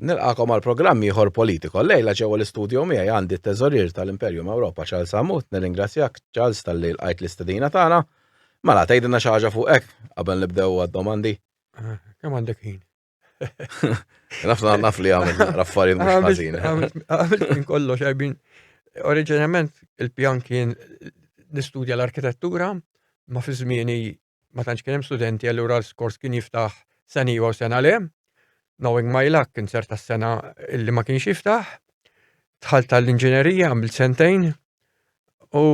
Nilqagħkom għal programm ieħor politiko. Lejla ġewwa l-istudju miegħi għandi t-teżorier tal-Imperium Ewropa Charles Hammut, nirringrazzjak Charles talli lqajt l-istedina tagħna. Mela tgħidilna xi ħaġa fuq hekk qabel nibdew għad-domandi. Ah, kemm għandek ħin? Nafna naf li għamil raffariet mhux ah, ħażin. Għamil minn kollox għajbin. Oriġinament il-pjan kien nistudja l-arkitettura, ma fi żmieni ma tantx kien hemm studenti allura l-skors kien jiftaħ sena iva u sena le. Knowing my luck kien serta s-sena illi ma kienx jiftaħ. Tħalt tal-inġinerija għamil sentejn u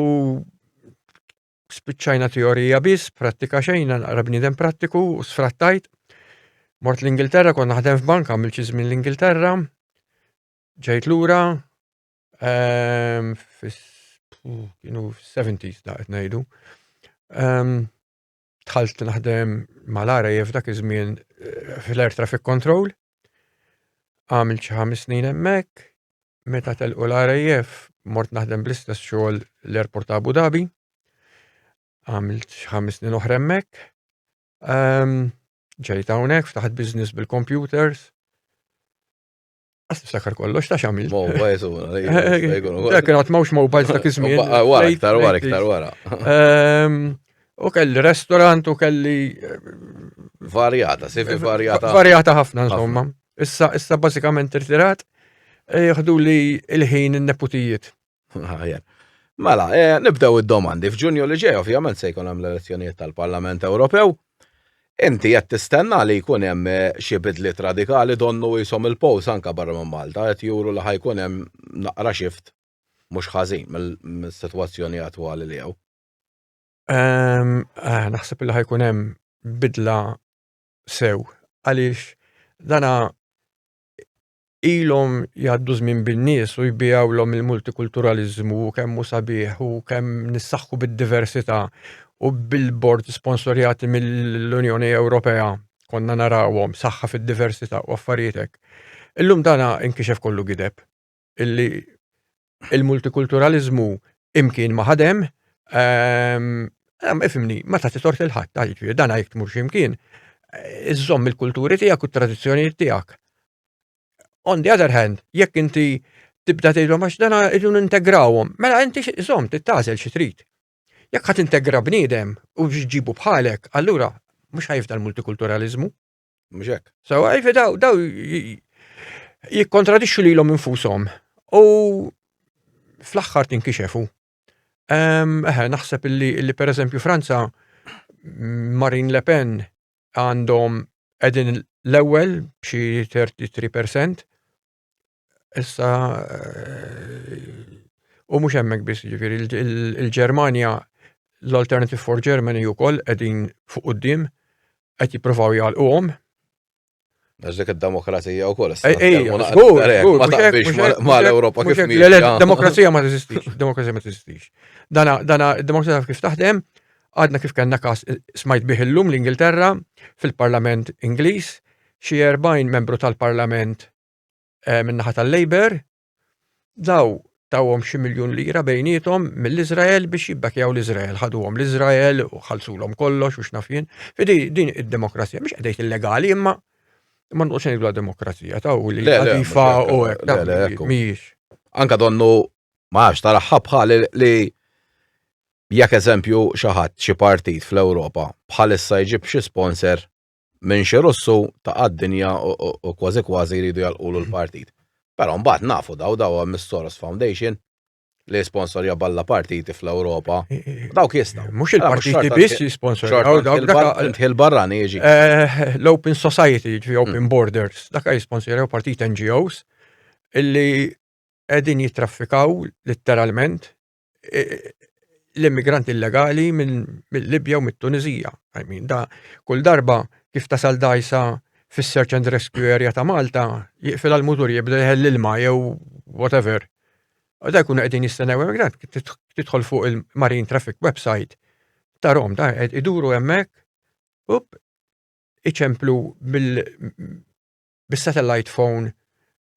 spiċċajna teorija biss, prattika xejn, naqra bniedem prattiku u sfrattajt. Mort l-Ingilterra, kon naħdem f'banka, għamil ċiżmin l-Ingilterra, ġejt lura, Ehm, kienu 70s da qed ngħidu. Ehm, tħalt naħdem mal-RAF dak iż-żmien eh, fl-Air Traffic Control. Għamil xi ħames snin hemmhekk, meta telqu l-RAF mort naħdem bl-istess xogħol l-Airport ta' Abu Dhabi. Għamil xi ħames snin oħra hemmhekk. Ehm, ġejt hawnhekk ftaħt business bil-computers. Għas niftakar kollox, ta' xamil. Mobiles, u Dak kien għatmawx mobiles ta' kizmi. Wara, iktar wara, iktar wara. Ehm, u kelli restaurant u kelli. Eh, varjata, sifi eh, varjata. Varjata ħafna, insomma. Issa, issa basikament irtirat, eh, jħdu li il-ħin il-neputijiet. Mela, eh, nibdew id-domandi. F'Ġunju li ġej ovvjament se jkun hemm l-elezzjonijiet tal-Parlament Ewropew. Inti qed tistenna li jkun hemm eh, xi bidliet radikali donnu jisom il-pows anka barra minn Malta qed juru li ħajkun hemm naqra xift mhux ħażin mill-sitwazzjoni attwali li hawn. Ehm, eh, naħseb li ħajkun hemm bidla sew għaliex dana ilhom jgħaddu żmien bin-nies u jbijawlhom il-multikulturaliżmu u kemm hu sabiħ u kemm nissaħħu bid-diversità u billboard sponsorjati mill-Unjoni Ewropea konna narawhom saħħa fid-diversità u affarietek. Illum dana inkixef kollu gideb illi il-multikulturalizmu imkien ma ħadem, ehm, ehm, ifimni, ma ta' tort il-ħadd, ta' jiġri, dan għajk tmur ximkien, eh, iżżomm il-kulturi tiegħek u t-tradizzjonijiet tiegħek. On the other hand, jekk inti tibda tgħidhom għax dana irridu integrawhom, mela inti żomm tittażel xi trid. Jekk ħadd integra bniedem u ġibu bħalek, allura mhux ħajfda l-multikulturalizmu. Mhux hekk. So, għajfi daw, daw jikkontradixxu lilhom infushom u fl-aħħar tinkixefu. Eħe, naħseb illi, illi per eżempju Franza, Marine Le Pen għandhom edin l-ewel xi 33% Issa u mhux hemmhekk biss, jiġifieri il-Ġermanja l-Alternative for Germany wkoll qegħdin fuq quddiem qed jippruvaw jgħalquhom. Nażdek id-demokrazija wkoll. Ma l-Ewropa kif Demokrazija ma teżistix, demokrazija ma teżistix. Dana id-demokrazija kif taħdem, għadna kif kellna kas smajt bih illum l-Ingilterra fil-Parlament Ingliż xi 40 membru tal-Parlament eh, min-naħa tal-Labor, daw tawhom xi miljun lira bejnietom mill-Iżrael biex jibbakjaw l-Iżrael, ħaduhom l-Iżrael u ħalsulhom kollox u x'nafjien. Fidi din id-demokrazija mhux qed illegali imma imma nqos ngħidlu demokrazija taw li għadifa u hekk mhijiex. Anka donnu ma għax tara ħabħa li jekk eżempju xi ħadd xi partit fl-Ewropa bħalissa jġib xi sponsor minn xi Russu ta' għad-dinja u kważi kważi jridu jalqulu l-partit. Però mbagħad nafu daw daw hemm is-Soros Foundation li sponsorja balla partiti fl-Ewropa. Dawk jistgħu. Mhux il-partiti biss jisponsorjaw dawk il barrani jiġi. Eh, L-Open Society, ġi Open hmm. Borders, dak jisponsorjaw partit NGOs illi qegħdin jitraffikaw litteralment l-immigranti illegali mill-Libja u mit-Tunizija. I mean, da kull darba kif tasal dajsa fis-search and rescue area ta' Malta, jiqfil għal-mutur jibda jħell ilma jew whatever. U da jkunu qegħdin jistennew immigrant, tidħol fuq il-Marine Traffic website ta' Rom, da iduru hemmhekk, up, iċemplu bis-satellite phone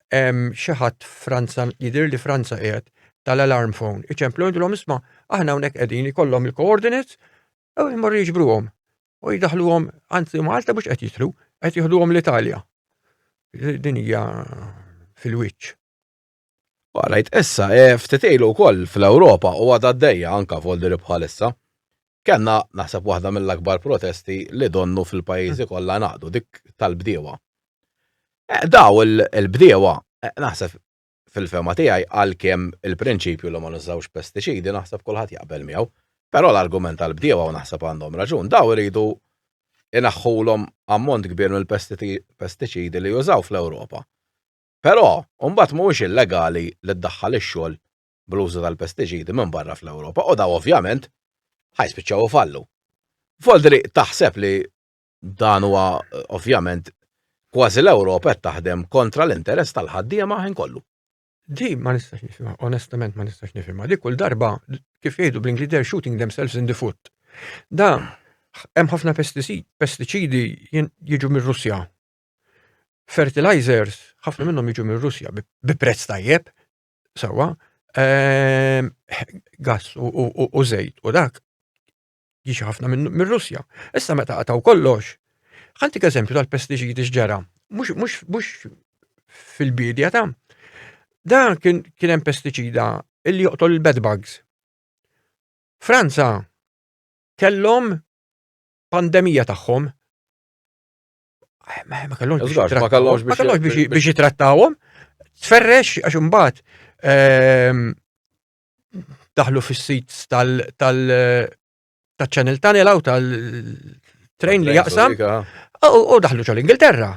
xi ħadd Franza jidir li Franza qiegħed tal-alarm phone. Iċemplu jidilhom isma' aħna hawnhekk qegħdin ikollhom il-coordinates u jmorru jiġbruhom. U jidaħluhom anzi Malta mhux qed jitlu, qed jieħduhom l-Italja. Din hija fil-wiċċ. Għalajt issa, e, ftit ilu wkoll fl-Ewropa u għadha għaddejja anka f'Oldi bħalissa. Kenna naħseb waħda mill-akbar protesti li donnu fil-pajjiżi mm. kollha naqdu dik tal-bdiewa. E, daw il-bdiewa e, naħseb fil-fema tiegħi għalkemm il-prinċipju li ma nużawx pestiċidi naħseb kulħadd jaqbel miegħu. Però l-argument tal-bdiewa u naħseb għandhom raġun, daw iridu inaħħulhom ammont kbir mill-pestiċidi li jużaw fl-Ewropa. Però, imbagħad mhuwiex illegali li ddaħħal ix-xogħol bl-użu tal-pestiċidi minn barra fl-Ewropa u dawn ovvjament ħa jispiċċaw ifallu. Voldri taħseb li dan huwa ovvjament kważi l-Ewropa qed taħdem kontra l-interess tal-ħaddiema ħin kollu. Di ma nistax nifhimha, onestament ma nistax nifhimha. Di kull darba kif jgħidu bl-Ingliż they're shooting themselves in the foot. Da hemm ħafna pestiċidi jiġu mir-Russja fertilizers, ħafna minnhom jiġu minn Russja bi prezz tajjeb, sawa, ehm, gas u żejt u dak jiġi ħafna minn Russja. Issa meta qataw kollox, ħantik eżempju tal-pestiċidi x'ġara, mhux fil-bidja ta' da kien hemm pestiċida illi joqtol il-bed bugs. Franza kellhom pandemija tagħhom Ma kellhomx biex jitrattawhom. Tferrex għax imbagħad ehm, daħlu fis-sits tal tal-Channel Tunnel aw tal-train li jaqsam u daħlu ġol Ingilterra.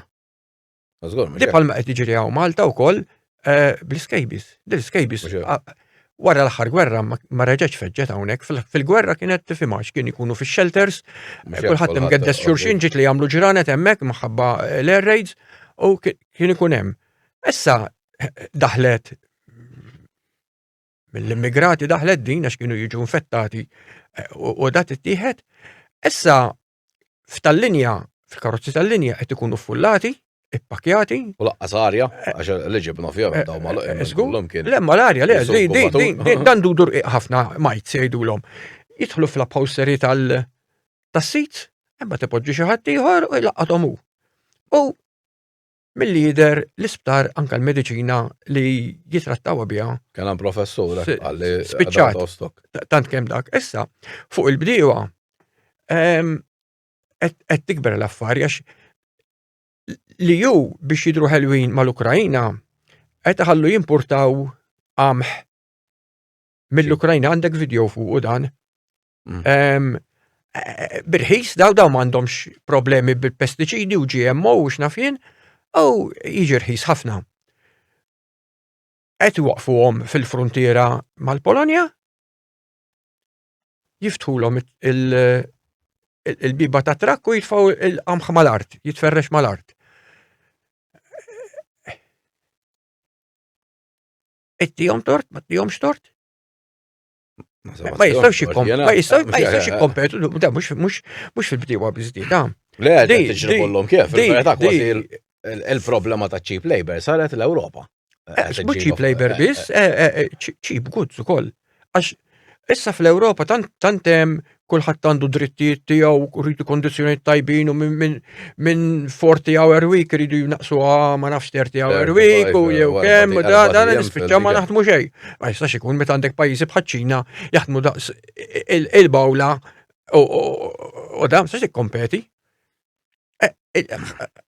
Di palma qed jiġri hawn Malta wkoll Eh, bl-iskejbis. L-iskejbis wara l-aħħar gwerra ma reġgħetx feġġet hawnhekk. Fil-gwerra kienet tifhimha x'kien ikunu fix-shelters, kulħadd imgeddes xurxin ġiet li jagħmlu ġranet hemmhekk maħabba eh, l-air raids u kien ikun hemm. Issa daħlet mill-immigrati daħlet din għax kienu jiġu infettati eh, u dat ittieħed. Issa f'tal-linja, fil-karozzi tal-linja qed ikunu ffullati, ippakjati. U laqqas arja, eh, għax li ġibna fija eh, daw mal eh, kien. Lemma l-arja, le, dan dudur ħafna majt sejdu l-om. Jitħlu fl-upholstery tal-sit, imma tipoġġi xi ħadd ieħor u jlaqqathom hu. U Milli jidher l-isptar anka l-mediċina li jitrattawa biha. Kien hemm professur eh, għalli spiċċat. Tant kemm dak. Issa, fuq il-bdiewa ehm, qed tikber l-affari għax li ju biex jidru ħelwin mal-Ukrajna qed ħallu jimpurtaw għamħ mill-Ukrajna għandek video fuq u dan Mm. Birħis, daw daw m'għandhomx problemi bil-pestiċidi u GMO u x'nafin, u jiġi rħis ħafna. Qed waqfuhom fil-frontiera mal-Polonja, jiftħulhom il-biba ta' trakku jitfaw il-qamħ mal-art, jitferrex mal-art. Ittijom tort, ma tijom xtort? Ma jistawx jikkompetu, da mux fil-bdiewa bizdida. Le, tiġri kollom kif, il-problema ta' cheap labor saret l-Europa. Eh, mux cheap labor eh, bis, eh, cheap goods u koll. Għax, issa fl-Europa tantem kulħadd għandu drittijiet tiegħu u rridu kondizzjonijiet tajbin u minn min, min 40 hour week rridu jnaqsuha ma nafx 30 hour week u jew kemm u da dan nispiċċa ma naħdmu xejn. Ma jistax ikun meta għandek pajjiżi bħaċ-Ċina jaħdmu daqs il-bawla u da ma jistax ikkompeti. E, e,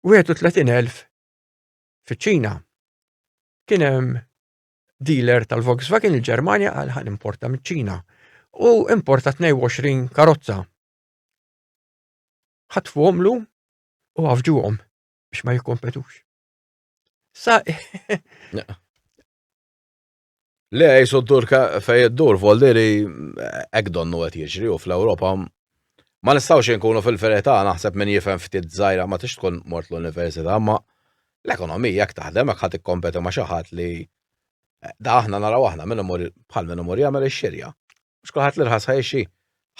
31,000 fiċ-Ċina. Kien hemm dealer tal-Volkswagen il-Ġermanja għal ħan importa miċ-Ċina u importa 22 karozza. Ħatfu għomlu u għafġu għom biex ma jikompetux. Sa. Le, jisu turka fej id-dur, voldiri, ek donnu għet jiġri u fl-Europa. Ma nistawx nkunu fil-ferita, naħseb minn jifem ftit zaħira ma tix tkun mort l-università, ma l-ekonomija jek taħdem, jek ħat kompeti ma xaħat li da aħna naraw aħna minn imur bħal minn imur jagħmel ix-xirja. Mhux kulħadd li rħas ħajxi.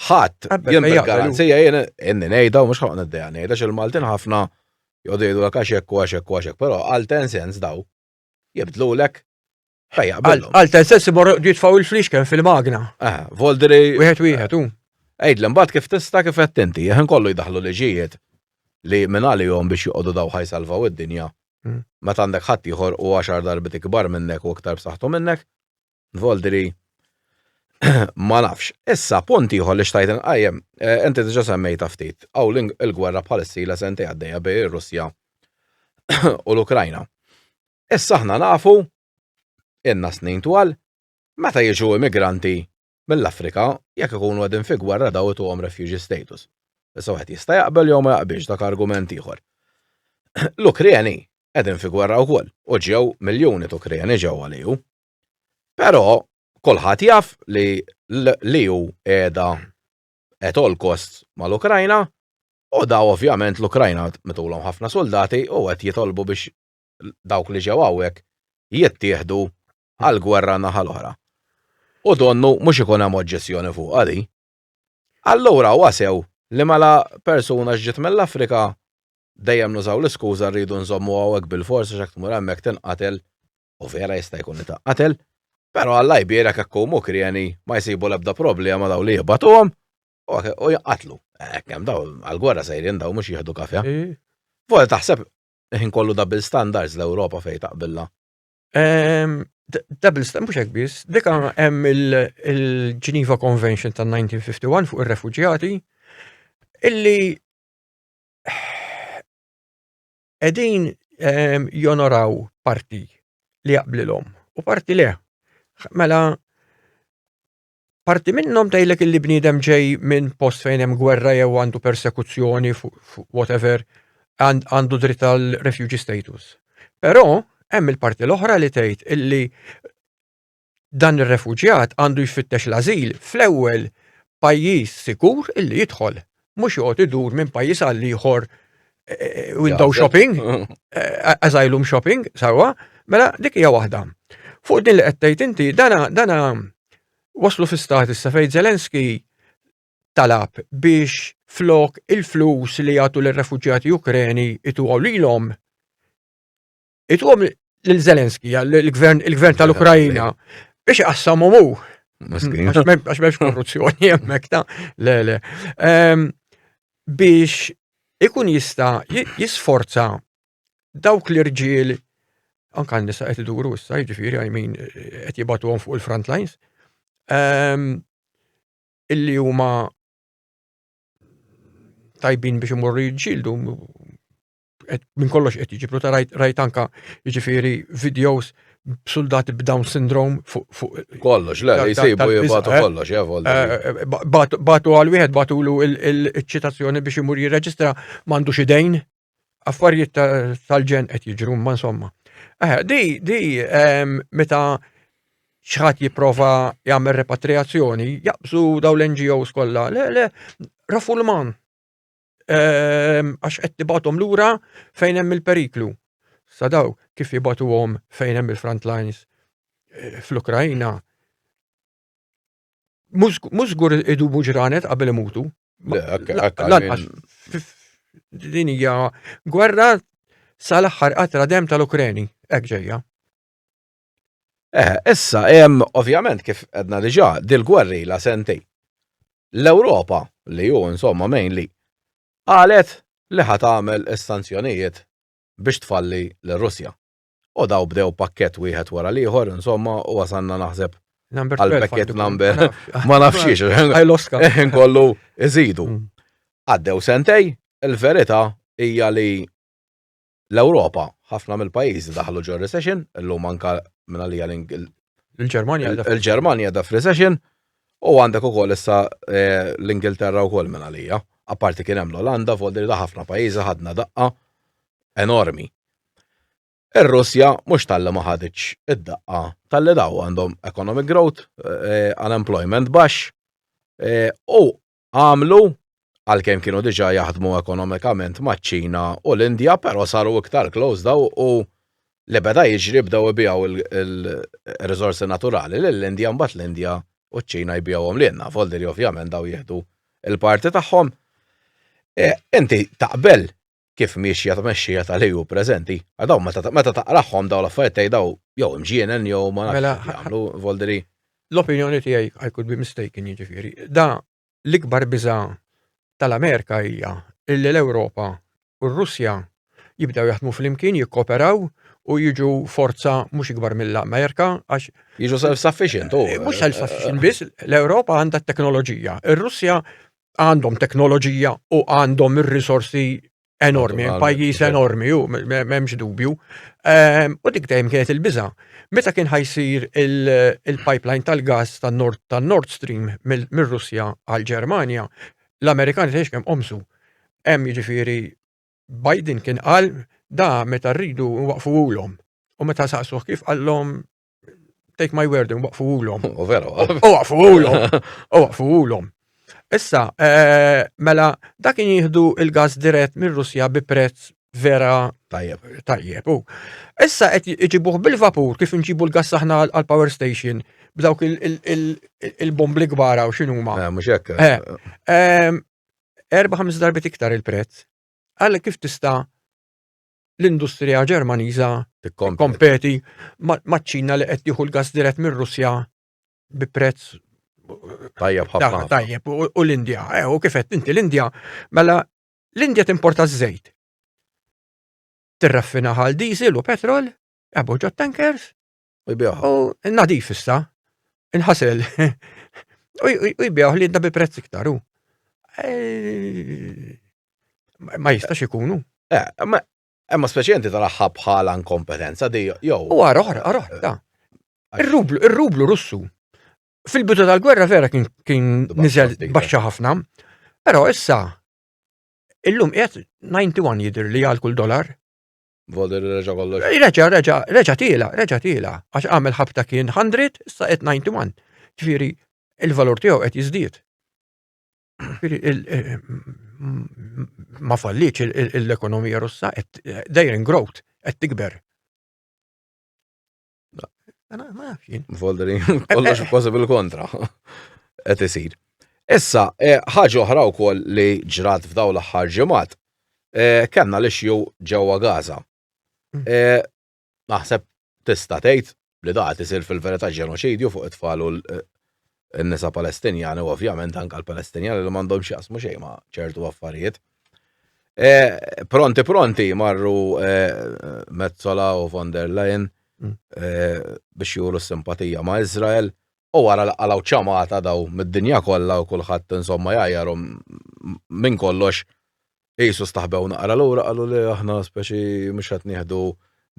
Ħadd jien bil-garanzija jien inni ngħidha u mhux ħloq niddejja ngħidha x'il-Maltin ħafna jgħodu jgħidu l-kaxek u għaxek u għaxek, però għal ten sens daw jibdlulek. Għal ten sens imor jitfaw il-flixken fil-magna. Eh, voldri. Wieħed wieħed, u. Ejd l-imbat kif tista kif qed tinti, jħin kollu jdaħlu liġijiet li minn għalihom biex joqogħdu daw ħajsalvaw id-dinja. Hmm. Meta għandek ħadd ieħor u għaxar darbit ikbar minnek u iktar b'saħħtu minnek, Voldri, ma nafx. Issa, punt ieħor li xtajt nqajjem, eh, inti diġa semmejta ftit, għaw il-gwerra bħalissa la sentej għaddejja bej ir-Russja u l-Ukrajna. Issa aħna nafu, inna snin twal, meta jiġu immigranti mill-Afrika, jekk ikunu għedin fi gwerra daw għom refugee status. Issa għed jista' jaqbel jew ma jaqbilx dak argument ieħor. L-Ukreni qegħdin fi gwerra wkoll u ġew miljuni t-Ukreni ġew għaliju. Però kulħadd jaf li l-EU qiegħda at all costs mal-Ukrajna u daw ovvjament l-Ukrajna mitulhom ħafna soldati u qed jitolbu biex dawk li ġew hawnhekk jittieħdu għal gwerra naħa l-oħra. U donnu mhux ikun hemm oġġezzjoni fuq għadi. Allura wasew li mela persuna ġġiet mill-Afrika dejjem nużaw l-iskuża rridu nżommu hawnhekk bil-forsi x'hekk tmur hemmhekk tinqatel u vera jista' jkun li ta' qatel, pero għalla jbira kakku mukrjeni ma jsibu lebda problema daw li jibatuhom u jqatlu. Ekkem daw għal-gwerra sejrin daw mux jihdu kafja. Vojt taħseb ħin kollu double standards l-Europa fej taqbilla. Double standards, mux ekbis, dika hemm il-Geneva Convention ta' 1951 fuq il-refugjati, illi qegħdin ehm, jonoraw parti li jaqblilhom u parti le. Mela parti minnhom tgħidlek illi bniedem ġej minn post fejn hemm gwerra jew għandu persekuzzjoni fuq whatever għandu dritt għal refugee status. Però hemm il-parti l-oħra li tgħid illi dan ir-refuġjat għandu jfittex l-ażil fl-ewwel pajjiż sikur illi jidħol, mhux joqgħod idur minn pajjiż għal ieħor eh, window shopping, eh, asylum shopping, sawa, mela dik hija waħda. Fuq din li qed tgħid inti dana dana waslu fi stat issa fejn Zelensky talab biex flok il-flus li jagħtu l-refuġjati Ukreni itu għaw lilhom itqum lil Zelensky, il-gvern tal-Ukrajina, biex qassam u għax memx korruzzjoni jemmek ta' le le. Ehm, biex ikun jista jisforza dawk l-irġiel anka nisa qed iduru issa, jiġifieri I mean qed jibatuhom fuq il-front lines. Ehm, illi huma tajbin biex imorru jġildu minn kollox qed jiġibru ta' rajt anka jiġifieri videos b'suldati b'Down syndrome fuq kollox, le, jisibu jibatu eh? kollox, javolli. Eh, eh, batu għal wieħed batu lu il-ċitazzjoni biex imur jirreġistra mandu xidejn, affarijiet tal-ġen qed jiġru, ma insomma. Di, di, ehm, meta xħat jiprofa jagħmel repatriazzjoni, jaqbżu daw l-NGOs kollha, le, le, rafu l-man, Ehm, għax qed tibatom lura fejn hemm il-periklu. Sadaw kif jibatuhom fejn hemm il-front lines eh, fl-Ukrajna. Mhux żgur idubu ġranet qabel imutu. Din hija gwerra sal-aħħar qatra dem tal-Ukreni, hekk ġejja. Eh, issa, hemm ovvjament kif għedna diġà dil-gwerri la sentej. L-Ewropa li hu insomma mainly qalet li ħat tagħmel is-sanzjonijiet biex tfalli l-Russja. U daw bdew pakket wieħed wara l-ieħor, insomma, u wasanna naħseb għal-pakket number, ma nafxiex, eħin kollu iżidu. Mm. Għaddew sentej, il-verita hija li l-Ewropa, ħafna mill-pajjiżi daħlu ġo recession, illum anka minn għalija l-Ġermanja. Il-Ġermanja da f'recession u għandek ukoll issa eh, l-Ingilterra wkoll minn għalija. Apparti kien hemm l-Olanda, voldi da ħafna pajjiżi ħadna daqqa enormi. Ir-Russja mhux tal-li ma ħaditx id-daqqa tal-li daw għandhom economic growth, eh, unemployment baxx, eh, u għamlu, għalkemm kienu diġà jaħdmu ekonomikament maċ-Ċina u l-Indja, però saru iktar close daw u li beda jiġri bdew ibijaw il-riżorsi naturali lill-Indja mbagħad l-Indja u ċ-Ċina jbijawhom lilna, foldi li ovvjament daw jieħdu il-parti tagħhom. E, inti taqbel kif miexja tmexxija tal-EU preżenti, daw meta taqrahom daw l-affarijiet tgħid daw jew imġienen jew ma nafx mela, jagħmlu volderi. L-opinjoni tiegħi I could be mistaken jiġifieri. Da l-ikbar biża' tal-Amerika hija illi l-Ewropa u r-Russja jibdew jaħdmu flimkien, jikkoperaw u jiġu forza mhux ikbar mill-Amerika għax. Jiġu self-sufficient u. Eh, mhux self-sufficient biss, l-Ewropa għandha t-teknoloġija. Ir-Russja għandhom teknoloġija u għandhom ir-risorsi enormi, pajjiż enormi, u memx dubju. Ehm, u dik dejjem kienet il-biża. Meta kien ħajsir il-pipeline tal-gas tan-Nord tan Nord Stream mir-Russja għal-Ġermanja, l-Amerikani tgħix kemm qomsu. Hemm jiġifieri Biden kien qal da meta rridu waqfu ulhom. U meta saqsuh kif qallhom take my word, waqfu ulom. U vera. U waqfu ulom. U waqfu ulom. Issa, eh, mela, dakin jihdu il-gas dirett minn Russja bi prezz vera tajjeb. Tajjeb. U issa qed iġibuh bil-vapur kif nġibu l-gas aħna għal power station b'dawk il-bombli kbara u x'inhuma. Eh, mhux hekk. Eh, erba' ħames darbit iktar il-prezz. Għal kif tista' l-industrija Ġermaniża tikkompeti maċ-Ċina li qed tieħu l-gass dirett mir-Russja bi prezz tajjeb ħafna. Tajjeb u l-Indja, eh, u kif qed inti l-Indja, mela l-Indja timporta ż-żejt. Tirraffina ħal diesel u petrol, eboġġa tankers, u jbieħ. U nadif issa, inħasel, u jbieħ li jidda bi prezz iktar u. Eh, ma jistax ikunu. Eh, Emma speċjenti tal-aħħa bħala inkompetenza di jew. U għara, għara, għara, da. Ir-rublu, ir-rublu russu. Fil-bidu tal-gwerra vera kien kien niżel baxxa ħafna, però issa illum qiegħed 91 jidher li għal kull dolar. Voder reġa kollox. Reġa, reġa, reġa tila, reġa tila. Għax għamil ħabta kien 100, issa qed 91. Ġifieri il-valur tiegħu qed jiżdied. Eh, ma falliċ l-ekonomija russa qed dejrin growth qed tikber. Foldering, kollox kważi bil-kontra. Qed isir. Issa, eh, ħaġa oħra wkoll li ġrat f'daw l-aħħar ġimgħat, eh, kellna li xju ġewwa Gaza. Mm. Eh, naħseb tista' tgħid li da qed isir fil-verità ġenoċidju fuq it-tfal u in-nisa Palestinjani u ovvjament anke l-Palestinjani li m'għandhom x'jaqsmu xejn ma' ċertu affarijiet. E, pronti pronti marru e, Mezzola u von der Leyen mm. e, biex juru simpatija ma' Izrael u wara laqalaw ċamata daw mid-dinja kollha u kulħadd insomma jgħajjarhom minn kollox jisu staħbew naqra lura qalu li aħna speċi mhux qed nieħdu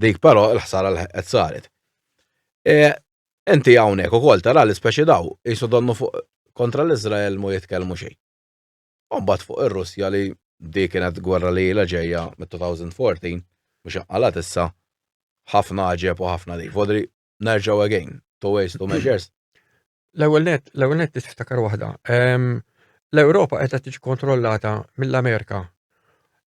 dik però l-ħsara l qed saret. E, Inti hawnhekk ukoll tara li speċi daw qisu donnu fuq kontra l-Iżrael mhu jitkellmu xejn. U mbagħad fuq ir-Russja li di kienet gwerra li ilha ġejja mit-2014 mhux inqalgħet issa ħafna għaġeb u ħafna di. Vodri nerġgħu again, two ways, two measures. L-ewwel nett, l-ewwel nett trid tiftakar waħda. L-Ewropa qiegħda tiġi kontrollata mill-Amerika.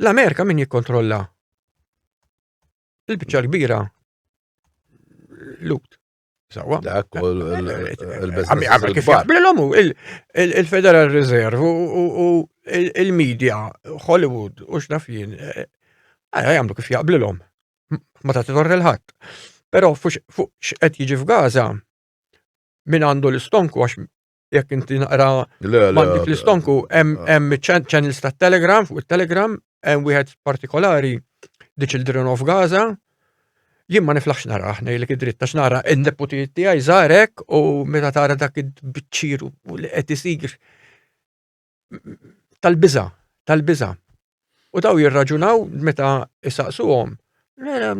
L-Amerika min jikkontrolla? Il-biċċa l-kbira lut. Sawa. Dak u il-Federal Reserve u il-media, Hollywood, u xnaf jien, għajja jgħamlu kif jaqblilhom. Ma ta' t-torri l-ħadd. Però fuq x'qed jiġi f'Gaza, min għandu l-istonku għax jekk inti naqra mandik l-istonku, hemm channels ta' Telegram, fuq il-Telegram, hemm wieħed partikolari, The Children of Gaza, jien ma niflaħx nara ħnej li kidrit ta' xnara n-deputi tiegħi żarek u meta tara dak id-biċċiru u li qed isir. tal-biża, tal-biża. U daw jirraġunaw meta isaqsuhom Mela,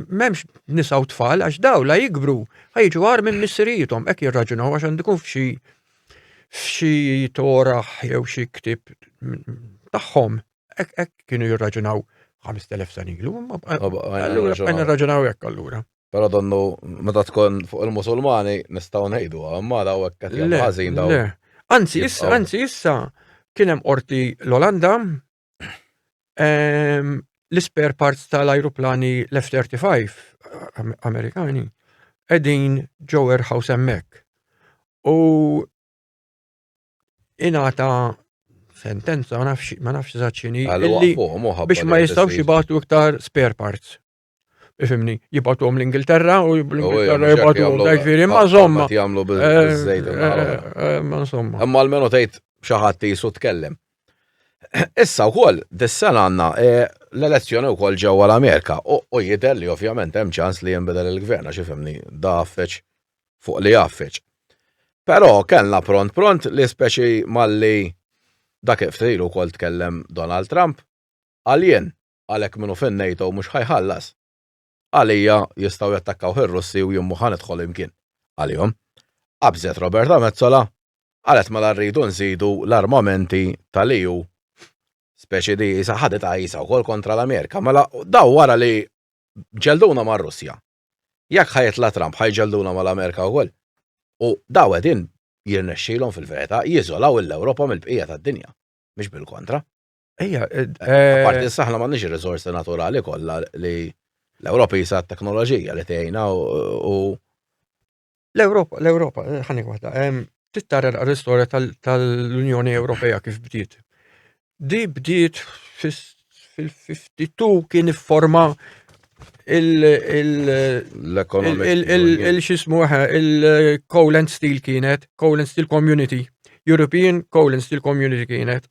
memx nisa u tfal, għax daw la jikbru, ħajġu għar minn missirijitom, ek jirraġunaw għax għandikun fxi fxi toraħ jew xi ktib tagħhom, ek kienu jirraġunaw 5000 sanilu, għallura għanna raġunaw ek għallura. Pero donnu, meta tkun fuq il-Musulmani, nistaw nejdu, għamara u għekkat jgħazin daw. Anzi, issa, anzi, issa, kienem orti l-Olanda, ehm, l-spare parts tal-aeroplani l-F-35 Amerikani, edin ġo warehouse emmek. U inata sentenza, ma nafx, ma nafx zaċini, biex ma jistaw xibatu iktar spare parts. Ifimni, jibatuhom l-Ingilterra u l-Ingilterra jibatuhom dajt viri, ma zomma. Jamlu bil-żejda. Ma zomma. Imma l-menu tajt xaħat jisu tkellem. Issa u koll, dis-sena għanna e, l-elezzjoni u koll ġewwa l-Amerika u jider li ovvjament hemm ċans li jinbidel il-gvern għax ifimni da affeċ fuq li affeċ. Però kellna pront pront li speċi malli dak iftrilu koll tkellem Donald Trump għaljen Għalhekk minhu fin NATO mhux ħa jħallas. Għalija jistgħu jattakkawh ir-Russi u jien mhu ħa nidħol imkien. Għalihom. Qabżet Roberta Metsola. Qalet mela rridu nżidu l-armamenti tal-EU. Speċi di isa ħadet għajsa wkoll kontra l-Amerika. Mela daw wara li ġelduna mar-Russja. Jekk ħa jitla' Trump ħa jġelduna mal-Amerika wkoll. U daw qegħdin jirnexxilhom fil-verita jiżolaw il-Ewropa mill-bqija tad-dinja. Mhux bil-kontra. Ejja, eh, eh, Parti s-saħna ma nix il-rizorsi naturali kollha li l-Ewropa jisa teknoloġija li tgħinha u l-Ewropa, l-Ewropa, eh, ħani waħda, tittara l-istorja tal-Unjoni Ewropea kif bdiet. Di bdiet fil-52 kien forma il-xismu il-Coal and Steel kienet, Coal and Steel Community, European Coal and Steel Community kienet.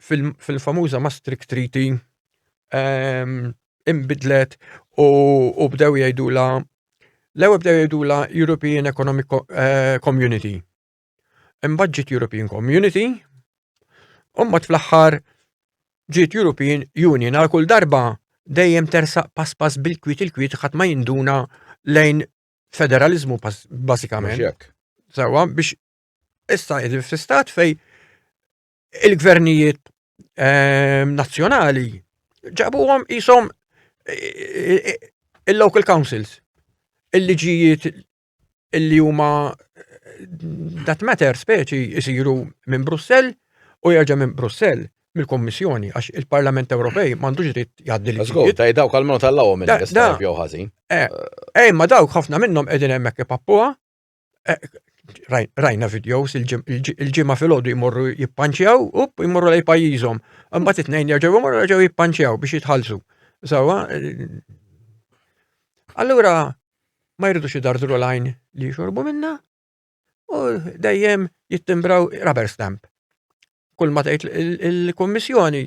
fil-famuża Maastricht Treaty ehm, imbidlet u bdew jgħidula l-ewwel bdew jgħidula European Economic eh, Community. Imbagħad European Community, u mbagħad fl-aħħar ġiet European Union għal kull darba dejjem tersaq pass pass bil-kwit il-kwit ħadd ma jinduna lejn federalizmu basikament. Sawa biex issa fl-istat fej il-gvernijiet ehm, nazzjonali ġabuhom jisom eh, eh, il-local councils, il-liġijiet illi huma eh, that matter speċi jisiru minn Brussell u jerġa' minn Brussell mill-Kommissjoni għax il-Parlament Ewropej m'għandux dritt jgħaddi li. Żgur, ta' dawk għal minn tal-lawhom il-istab jew ħażin. Ej, ma dawk ħafna minnhom qegħdin hemmhekk ipappuha rajna videos il-ġimma fil-ħodu jmorru jippanċjaw, up, jmorru lej pajizom. Għamma t-tnejn jarġaw jmorru jarġaw jippanċjaw biex jitħalsu. Zawa, allura ma jridux xidardru lajn li xorbu minna u dejjem jittimbraw rubber stamp. Kull ma tgħid il-Kummissjoni.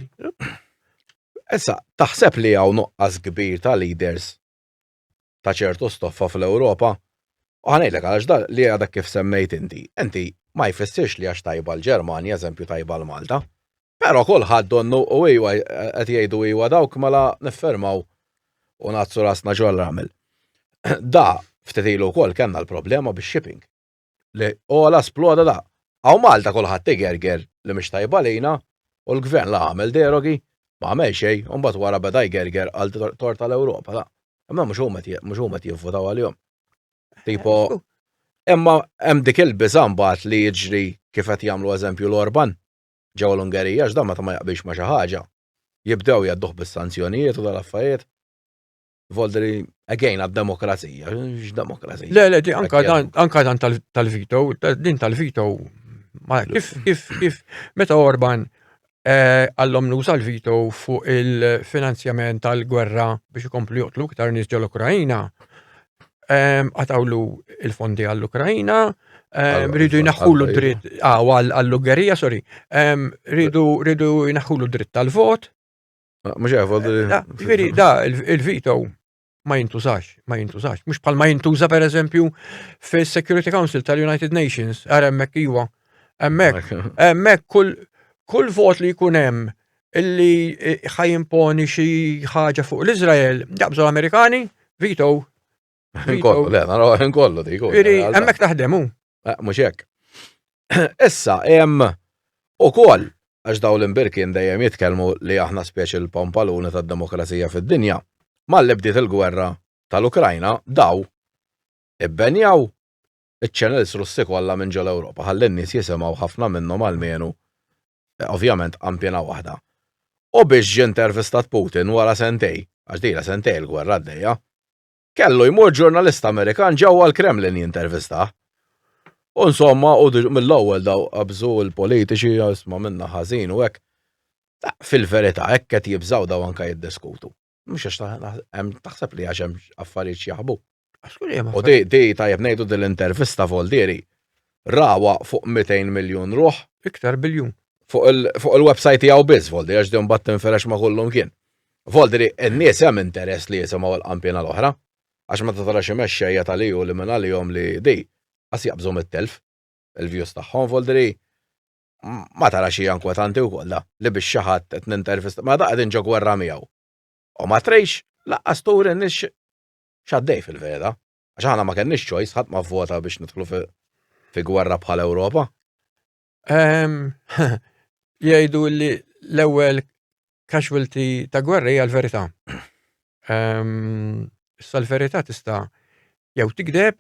Issa, taħseb li hawn nuqqas kbir ta' leaders ta' ċertu stoffa fl-Ewropa, u ħa ngħidlek għalax dan li għadek kif semmejt inti, inti ma jfissirx li għax tajba l-Ġermanja, eżempju tajba l-Malta. Però kulħadd donnu u iwa qed jgħidu iwa dawk mela niffirmaw u ngħaddsu rasna ġol-ramel. Da ftit ilu wkoll kellna l-problema bix-shipping. li ola sploda da. Għaw Malta kulħadd igerger li mhix tajba lejna u l-gvern la għamel derogi, ma għamel xejn u mbagħad wara beda jgerger għal tort tal-Ewropa da. Imma mhux huma mhux huma jivvotaw għalihom. Tipo, imma hemm dik il-biża' mbagħad li jiġri kif qed jagħmlu eżempju l-Orban ġew l-Ungerija x'dan meta ma jaqbilx ma' xi ħaġa. Jibdew jgħadduh bis-sanzjonijiet u dal-affarijiet. Voldri, again, għad-demokrazija, x-demokrazija. Le, le, anka dan, anka dan tal-vito, din tal-vito, kif, kif, kif, meta Orban eh, għallom nuża l-vito fuq il-finanzjament tal-gwerra biex ikomplu joqtlu iktar nies ġol-Ukrajina, eh, għatawlu il-fondi għall-Ukrajina, eh, rridu jnaħħulu dritt, ah, għall-Ungerija, sorry, rridu jnaħħulu dritt tal-vot, Ah, mhux jaf, ah, ġifieri da il-veto ma jintużax, ma jintużax. Mhux bħal ma jintuża pereżempju fis-Security Council tal-United Nations, ara hemmhekk iwa. Hemmhekk, hemmhekk kull kull vot li jkun hemm illi eh, ħajimponi xi ħaġa fuq l-Iżrael, jaqbżu l-Amerikani, veto. Nkollu, le, naraw nkollu dik. Iri, hemmhekk taħdemu. Eh, mhux hekk. Issa hemm ukoll għax daw l-imbirkin dejjem jitkellmu li aħna speċi l-pompaluni tad-demokrazija fid-dinja. Malli bdiet il-gwerra tal-Ukrajna daw ibbenjaw iċ-channels russi kollha minn ġol Ewropa ħalli n-nies jisimgħu ħafna minnhom għalmenu eh, ovvjament qampjena waħda. U biex ġintervistat Putin wara sentej, għax dejla sentej il-gwerra għaddejja, Kellu jmur ġurnalista Amerikan ġewwa l-Kremlin jintervistah. U insomma, u mill-ewwel daw qabżu l-politiċi jisma' minna ħażin u hekk. Fil-verità, hekk qed jibżgħu daw anke jiddiskutu. Mhux għax taħseb li għax hemm affarijiet x'jaħbu. U di di tajjeb ngħidu din l-intervista Voldieri rawa fuq 200 miljun ruħ. Iktar biljun. Fuq il-website tiegħu biss Voldieri għax din mbagħad tinferex ma' kullum kien. Volti li n-nies hemm interess li jisimgħu l-qanpiena l-oħra, għax meta tara xi mexxejja ta' li u li minn għalihom li di, qas jaqbżu mit-telf, il-views tagħhom, volti li ma tarax hija inkwetanti wkoll da, li biex xi ħadd qed nintervista, mela da qegħdin ġo gwerra miegħu. U ma trix lanqas turi n-nies x'għaddej fil-verita', għax aħna ma kellniex choice, ħadd ma vvota biex nidħlu fi gwerra bħal Ewropa. Jgħidu li l-ewwel casualty ta' gwerra hija l-verità. Issa l-verità tista' jew tikdeb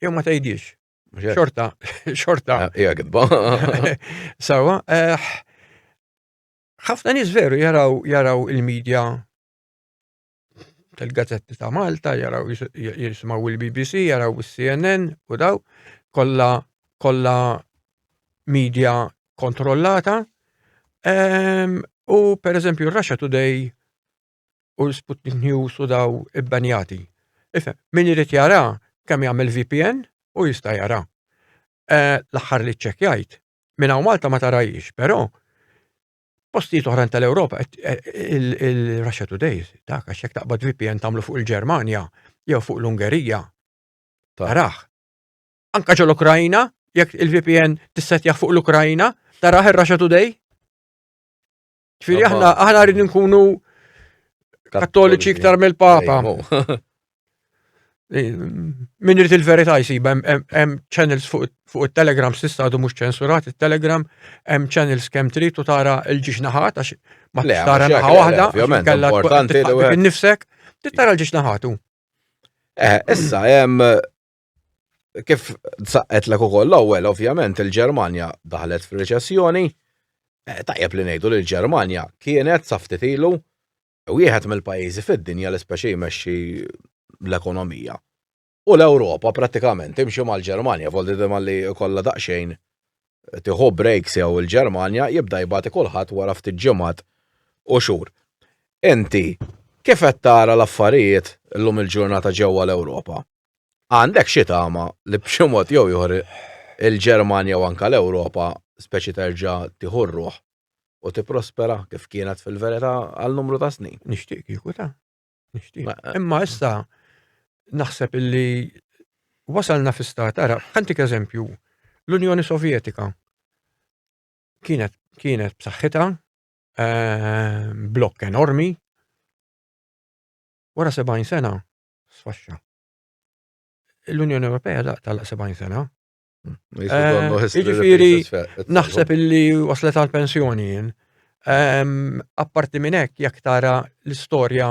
jew ma tgħidix. Xorta, xorta. Ah, hija gidba. Sawa, eh, ħafna nies veru jaraw jaraw il-medja tal-gazzetti ta' Malta, jaraw jisimaw il-BBC, jaraw il-CNN u daw, kolla, kolla media kontrollata. Um, u per eżempju Russia Today u l-Sputnik News u daw ibbanjati. Ife, min irid jara kemm jagħmel VPN u jista' jara. Uh, L-aħħar li ċċekjajt, minn hawn Malta ma tarajix, però Postijiet oħrajn tal-Ewropa, il-Russia Today, ta' għax jekk taqbad VPN tagħmlu fuq il-Ġermanja jew fuq l-Ungerija. Taraħ. Anka ġol Ukrajina, jekk il-VPN tissetjaħ fuq l-Ukrajina, taraħ ir-Russia Today. Ġifieri aħna aħna rridu nkunu kattoliċi iktar mill-Papa. Min irid il-verità jsib hemm channels fuq it-Telegram s'issa għadu mhux ċensurat it-Telegram, hemm channels kemm trid u tara l-ġiex naħat għax ma tara naħa waħda, kellha importanti li nifsek, tara l-ġiex naħatu. Eh, issa hemm kif saqqet l ukoll l-ewwel ovvjament il-Ġermanja daħlet fir-reċessjoni, eh, tajjeb li ngħidu li l-Ġermanja kienet saftit ilu wieħed mill-pajjiżi fid-dinja li speċi jmexxi l-ekonomija. U l-Ewropa prattikament imxi mal-Ġermanja, voldi dima li kollha daqsxejn tiħu breaks jew il-Ġermanja jibda jibati kulħadd wara ftit ġimgħat u xhur. Inti kif qed tara l-affarijiet llum il-ġurnata ġewwa l-Ewropa? Għandek xi tama li b'xi mod jew ieħor il-Ġermanja u anke l-Ewropa speċi terġa' tieħu r-ruħ u tipprospera kif kienet fil-verità għal numru ta' snin. Nixtieq kieku ta' nixtieq. Eh, Imma issa naħseb illi wasalna fi stat, ara, ħantik eżempju, l-Unjoni Sovjetika kienet kienet b'saħħitha eh, blokk enormi wara 70 sena sfaxxa. L-Unjoni Ewropea daqtala 70 sena Jiġifieri naħseb illi waslet għal pensjoni jien. Apparti minn hekk jekk tara l-istorja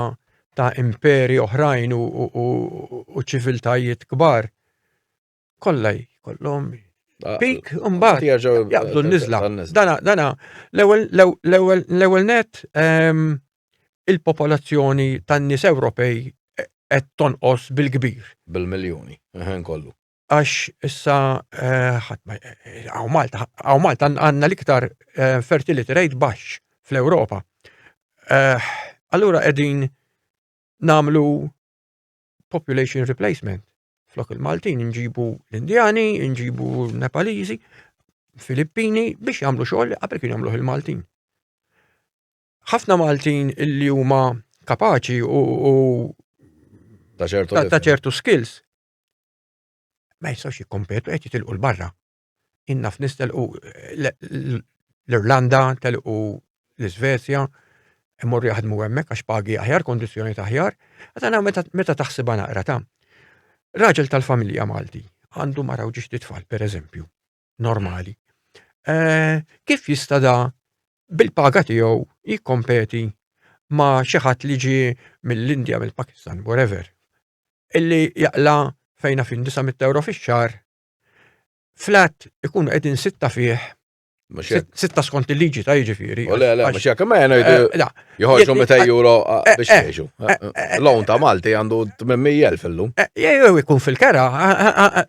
ta' imperi oħrajn u ċiviltajiet kbar, kollha jkollhom pik imbagħad jaqbdu n-niżla. Dana l-ewwel net il-popolazzjoni tan-nies Ewropej qed tonqos bil-kbir. Bil-miljuni, kollu. Għax issa għaw Malta, għaw Malta għanna l-iktar fertility rate baxx fl-Europa. Allura edin namlu population replacement. Flok il-Maltin nġibu l-Indjani, nġibu l-Nepalizi, Filippini biex jagħmlu xogħol li qabel kien jagħmluh il-Maltin. Ħafna Maltin illi huma kapaċi u ta' ċertu skills ma jistgħux jikkompetu qed jitilqu l-barra. Inna f'nis telqu l-Irlanda, telqu l-Iżvezja, imorru jaħdmu hemmhekk għax pagi aħjar, kondizzjoni taħjar, għadana meta taħsibha naqra ta' raġel tal-familja Malti għandu maraw ġiex titfal, per eżempju, normali. Eh, kif jista' da bil-paga tiegħu jikkompeti ma' xi ħadd li ġi mill-Indja, mill-Pakistan, whatever, illi jaqla fejna fin 900 euro fix-xar, flat ikun qegħdin sitta fih Sitta skont il-liġi ta' jiġifieri. U le, le, mux jgħak, ma jgħana jgħidu. Joħorġu 200 euro ah, eh, biex eh, jiexu. Eh, Lawn ta' Malti għandu 800.000 illum. Jew ikun fil-kera.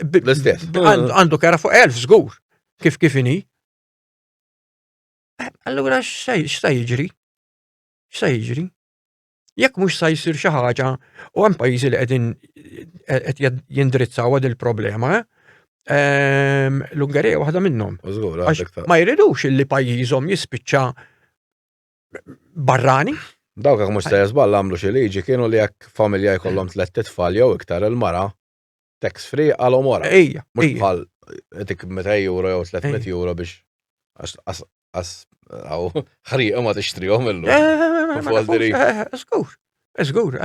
L-istess. Għandu kera fuq 1000 żgur. Kif kif inhi. Allura x'sa jiġri? X'sa jiġri? Jekk mhux sa jsir xi ħaġa u hemm pajjiżi li qegħdin qed jindrizzaw għad il-problema, ehm, l-Ungerija waħda minnhom. Ma jridux li pajjiżhom jispiċċa barrani. Dawk jekk mhux se żball għamlu xi liġi kienu li jekk familja jkollhom tliet titfal jew iktar il-mara tax free għalhom wara. Ejja. Mhux bħal dik 200 euro jew 300 euro biex għas ħrieqa ma tixtrihom illum. Żgur, żgur,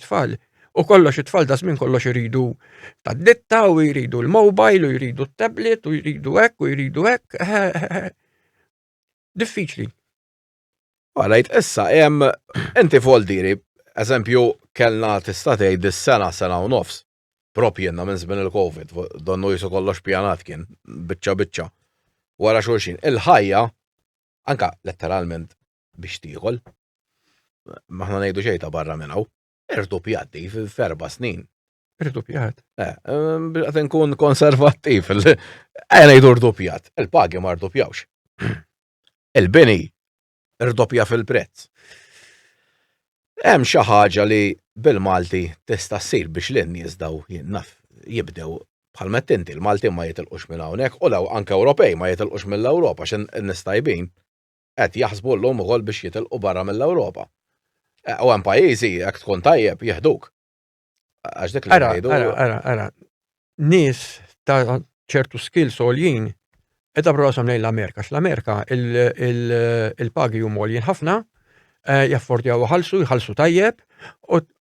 tfal. U kollox it-tfal da żmien kollox iridu tad-ditta u jridu l-mobile u jridu t-tablet u jridu hekk u jridu hekk. diffiċli. Għalajt, issa, jem, enti voldiri, eżempju, kellna tista' tgħid is-sena sena u nofs. Prop jenna minn żmien il-Covid, donnu jisu kollox pjanat kien, biċċa biċċa. Wara xulxin, il-ħajja, anka letteralment biex tieħol, maħna ngħidu xejn ta' barra minn hawn. Irduppjat di f'erba snin. Irduppjat? Eh, ehm, għat nkun konservattiv. Għajna jidur irduppjat. Il-pagi ma irduppjawx. Il-bini irdoppja fil-prezz. Hemm xi ħaġa li bil-Malti tista' ssir biex l nies daw jinnaf jibdew bħal mettinti l-Malti ma jitilqux minn hawnhekk u law anke Ewropej ma jitilqux mill-Ewropa x'in nistajbin. qed jaħsbu llum ukoll biex jitilqu barra mill-Ewropa. U hemm pajjiżi jekk tkun tajjeb jieħduk. Għax dik li Ara, ngħidu. ara, ara, ara. Nies ta' ċertu skills għoljin edha brosam lejn l-Amerika. X'l-Amerika il- il- il-pagi huma għoljin ħafna, eh, jaffordjaw ħalsu, jħallsu tajjeb, u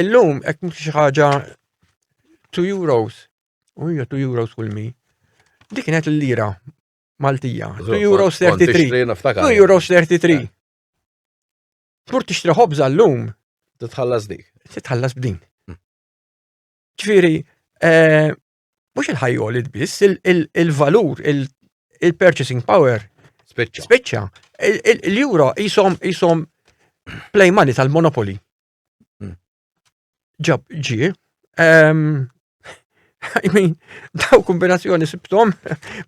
Illum qed mhux xi ħaġa 2 euros. U hija 2 euros kull mi. Dik kienet l-lira Maltija. 2 euros 33. 2 euros 33. Eh. Tmur tixtri ħobża llum. Titħallas dik. Titħallas b'din. Hmm. Ġifieri, eh, mhux il-ħajjolit biss, il-valur, il-purchasing power. Speċċa. Speċċa. L-euro jisom jisom play money tal-monopoli. Hmm. Ġab ġi. Ehm, I mean, daw kombinazzjoni sibtom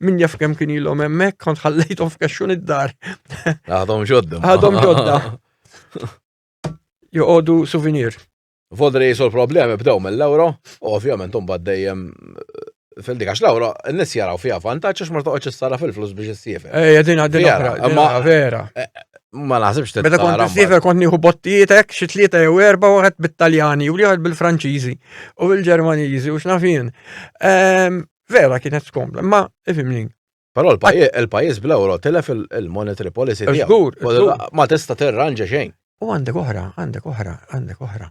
minn jaf kem kien ilhom hemmhekk kont ħallejthom f'kaxxun id-dar. Għadhom ġodda. Għadhom ġodda. Joqogħdu souvenir. Vodri jisu l-problemi bdew mill-euro, u ovvjament un dejjem Fildi, għax lawra, n-nis jaraw fija vantaċ, għax ma toqgħodx issara fil-flus biex issiefer. Ej, eh, din għaddin oħra, ma vera. Eh, eh, ma naħsibx t Meta kont issiefer kont nieħu bottietek, xi tlieta jew erba' wieħed bit-Taljani u wieħed bil-Franċiżi u bil-Ġermaniżi u x'nafin. Ehm, vera kienet skomda, ma ifimni. Però l-pajjiż bl-euro telef il-monetary policy tiegħu. Ma tista' terranġa xejn. U għandek oħra, għandek oħra, għandek oħra.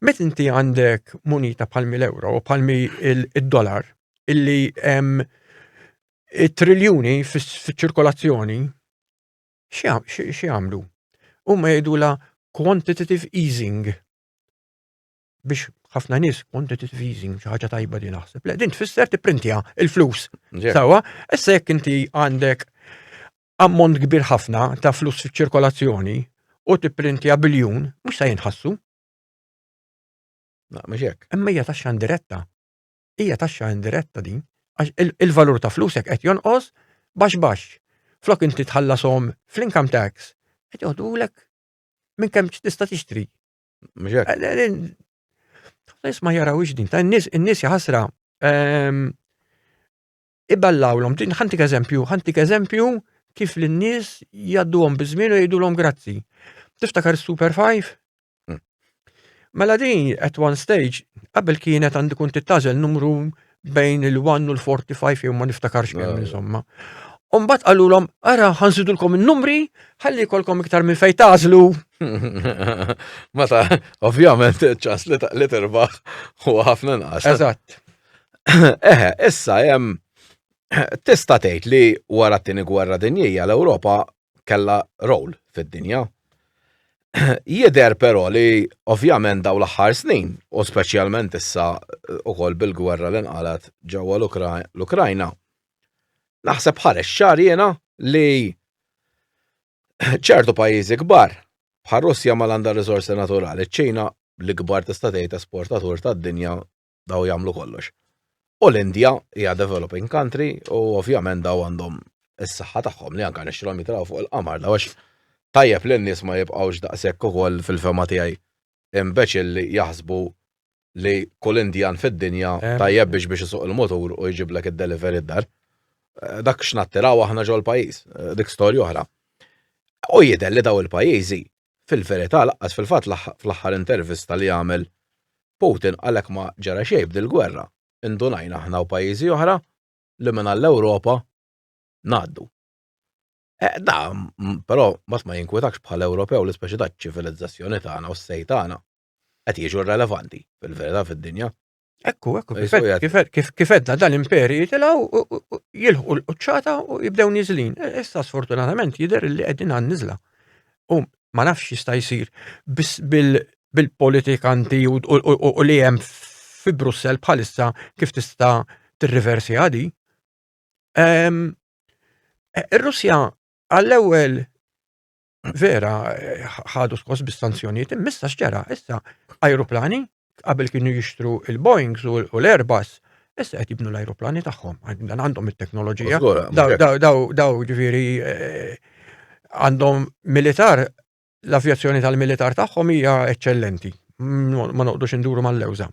Met inti għandek munita palmi l-euro, palmi il-dollar, illi hemm triljuni fiċ-ċirkolazzjoni, xi għamlu? U ma jgħidula quantitative easing. biex ħafna nies quantitative easing xi ħaġa tajba li naħseb. Le, din tfisser tipprintja il-flus. Sawa, issa jekk inti għandek ammont kbir ħafna ta' flus fiċ-ċirkolazzjoni u tipprintja biljun, mhux se jinħassu. Ma mhux hekk. Imma hija taxxa indiretta. Hija taxxa indiretta din għax il-valur ta' flusek qed jonqos bax bax. Flok inti tħallasom fl-income tax, qed joħdulek minn kemm tista' tixtri Nis ma jaraw din, ta' n-nis, n-nis jħasra. Ehm, Iballaw l-om, din ħantik eżempju, ħantik eżempju kif l-nis jaddu għom bizmin u jiddu l-om grazzi. Tiftakar Super 5? Hmm. Mela din, at one stage, qabel kienet għandu kun tittazel numru bejn il-1 u l-45 jew ma niftakarx kemm insomma. Umbat għallulom, ara, ħanżidulkom il-numri, ħalli kolkom iktar minn fej tażlu. Mata, ovvjament, ċans li taqli terbaħ u ħafna nqas. Eżatt. Eħe, issa jem, tista' tgħid li wara t-tieni gwerra dinjija l-Ewropa kellha rol fid-dinja. Jidher però li ovvjament daw l-aħħar snin, u speċjalment issa eh, ukoll bil-gwerra li nqalet ġewwa l-Ukrajna, naħseb ħareġ ċar jiena li ċertu pajjiżi kbar bħal Russja ma għandha riżorsi naturali, ċ-Ċina l-ikbar tista' tgħid esportatur tad-dinja daw jagħmlu kollox. U l-Indja hija developing country u ovvjament daw għandhom is-saħħa tagħhom li anke nixtrilhom jitraw fuq il-qamar daw għax tajjeb li n-nies ma jibqgħux daqshekk ukoll fil-fema tiegħi imbeċil li jaħsbu li kull Indjan fid-dinja eh. tajjeb biex biex isuq il-motur u jġiblek id-delivery d-dar. Eh, dak x'nattiraw aħna ġol pajjiż, eh, dik storja oħra. U jidher li daw il-pajjiżi Fil-verità laqqas fil-fatt fl-aħħar intervista li għamel Putin qalek ma ġara xejn b'dil-gwerra. Indunajna aħna u pajjiżi oħra li minn għall-Ewropa ngħaddu. Eh, da, però mbagħad ma jinkwetakx bħala Ewropew li speċi da ċ-ċivilizzazzjoni tagħna u s-sejt tagħna qed jiġu rrelevanti fil-verità fid-dinja. Ekku, ekku, kif edna dan imperi jitilaw jilħu l-qċata u jibdew nizlin. E, issa sfortunatament jider li għedin għan nizla. U ma nafx jista jisir bil-politikanti u li jem fi Brussel bħalissa kif tista t-reversi għadi. E, Ir-Russja għall-ewel vera ħadu skos bis-sanzjonijiet immissa x'ġara issa ajruplani qabel kienu jixtru il-Boeings u l-Airbus issa qed jibnu l-ajruplani tagħhom dan għandhom it-teknoloġija daw ġifieri eh, għandhom militar l-avjazzjoni tal-militar tagħhom hija eċċellenti ma noqdux induru mal-lewża.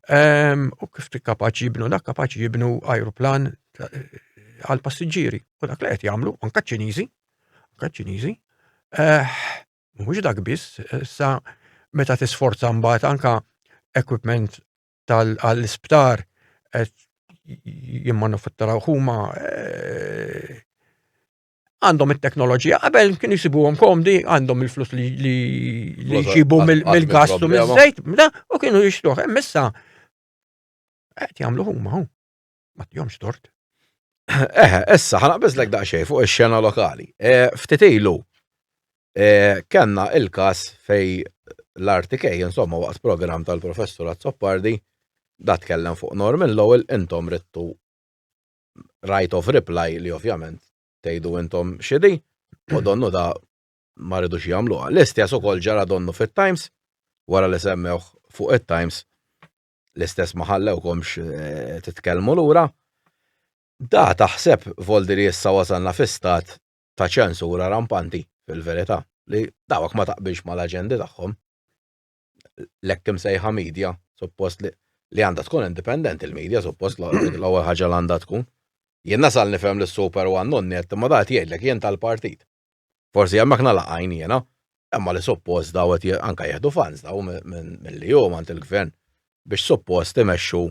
Ehm, u kif kapaċi jibnu dak kapaċi jibnu ajruplan eh, għal passiġġieri u dak li qed jagħmlu anke ċiniżi Ċiniżi. Eh, mhux dak biss, sa meta tisforza mbagħad anka equipment tal-isptar qed jimmanufatturaw huma eh, għandhom it-teknoloġija qabel kien jisibuhom komdi għandhom il-flus li jġibu mill-gastu mill-żejt u kienu jixtruħ. Missa qed jagħmlu huma Ma tjomx tort. Eħe, issa ħanaqbeżlek daqsxejn fuq ix-xena lokali. E, ftit ilu e, kellna il-każ fej l-RTK, insomma, waqt programm tal-professur Azzopardi, da tkellem fuq Norman Lowell, intom rittu right of reply li ovvjament tgħidu intom xidi, u donnu da ma rridux jagħmluha. L-istess ukoll ġara donnu fit-Times, wara li semmewh fuq it-Times, l-istess ma ħallewkomx eh, titkellmu lura. Da taħseb voldi li issa wasalna fi stat ta' ċensura rampanti fil-verità li dawk ma taqbilx ma l-aġendi tagħhom. Lekk imsejħa media, suppost li li għandha tkun independent il-media, suppost l-ewwel ħaġa l għandha tkun. Jien nasal nifhem li super one non net, ma dat jgħidlek jien tal-partit. Forsi hemmhekk nagħlaq għajn jiena, imma li suppost daw qed anke jieħdu funds daw milli huma għand il-gvern biex suppost imexxu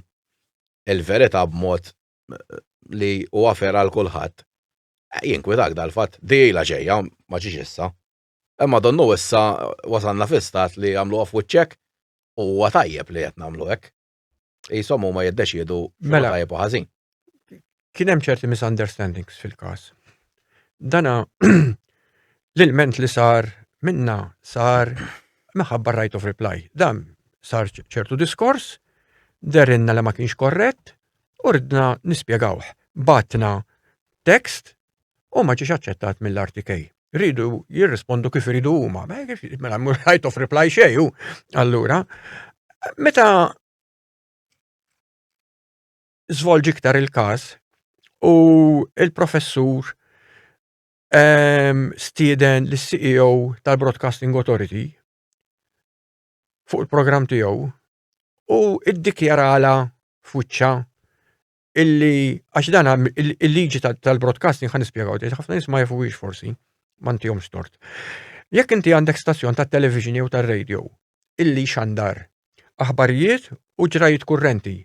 il-verità b'mod li huwa fair għal kulħadd. Eh, jinkwitak dal-fatt, dijila ġejja, ma ġiex issa. Imma donnu issa wasanna fi stat li għamlu għaf wiċċek u huwa tajjeb li qed nagħmlu hekk. Jisom huma jiddeċiedu mela tajjeb u ħażin. Kien hemm ċerti misunderstandings fil-każ. Dana l-ilment li sar minna sar minħabba right of reply. Dan sar ċertu diskors, derinna li ma kienx korrett, u ridna nispjegawh. Batna tekst u ma ġiex aċċettat mill-RTK. Ridu jirrispondu kif iridu huma, mela mhux right of reply xejju, allura. Meta żvolġi iktar il-każ u il-professur ehm, stieden l-CEO tal-Broadcasting Authority fuq il-programm tiegħu u iddikjarala fuċċa illi għax dan il-liġi tal-broadcasting ħan nispjegaw tgħid ħafna nisma' jafuwiex forsi mantihom stort. Jekk inti għandek stazzjon tat television jew tar-radio illi xandar aħbarijiet u ġrajiet kurrenti,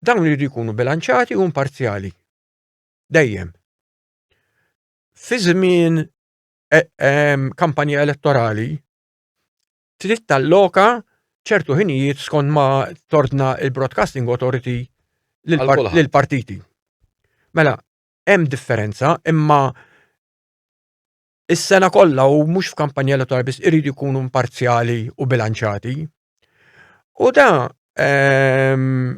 dawn jridu jkunu bilanċati u imparzjali. Dejjem. Fi żmien e, kampanja elettorali, trid talloka ċertu ħinijiet skont ma tordna il-Broadcasting Authority lill-partiti. Mela, hemm differenza, imma is-sena kollha u mhux f'kampanja elettorali biss iridu jkunu imparzjali u bilanċati. U da ehm,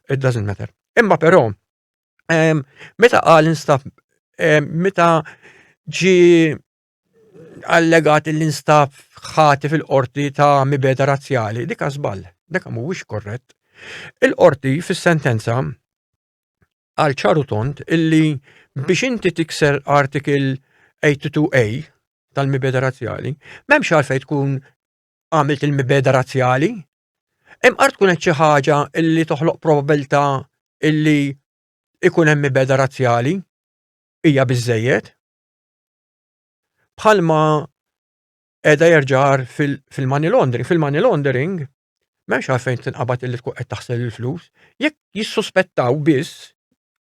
It doesn't matter. Imma però, meta qal instab, meta ġi allegat l-instab ħati fil-qorti ta' mibeda razzjali, dika żball, dika mhuwiex korrett. Il-qorti fis-sentenza għal ċaru tont illi biex inti tikser artikil 82A tal-mibeda razzjali, memx għalfej tkun għamilt il-mibeda razzjali, Hemm qar tkun qed xi ħaġa li toħloq probabilità illi ikun hemm ibeda razzjali hija biżejjed. Bħalma qiegħda jerġar fil-money laundering, fil-money laundering m'hemmx għalfejn tinqabad illi tkun qed taħsel il-flus, jekk jissuspettaw biss,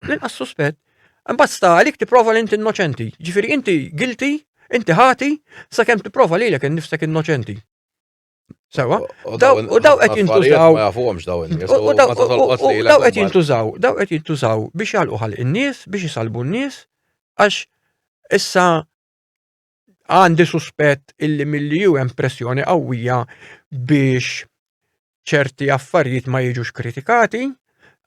l-inqas suspett, imbagħad sta għalik tipprova li inti innoċenti. Ġifieri inti guilty, inti ħati, sakemm tipprova lilek innifsek innoċenti. Sawa? U daw qed jintużaw. Ma jafuhomx daw in-nies. U daw qed jintużaw, daw qed jintużaw biex jagħlqu ħalq in-nies, biex jisalbu n-nies, għax issa għandi suspett illi milli ju hemm pressjoni qawwija biex ċerti affarijiet ma jiġux kritikati,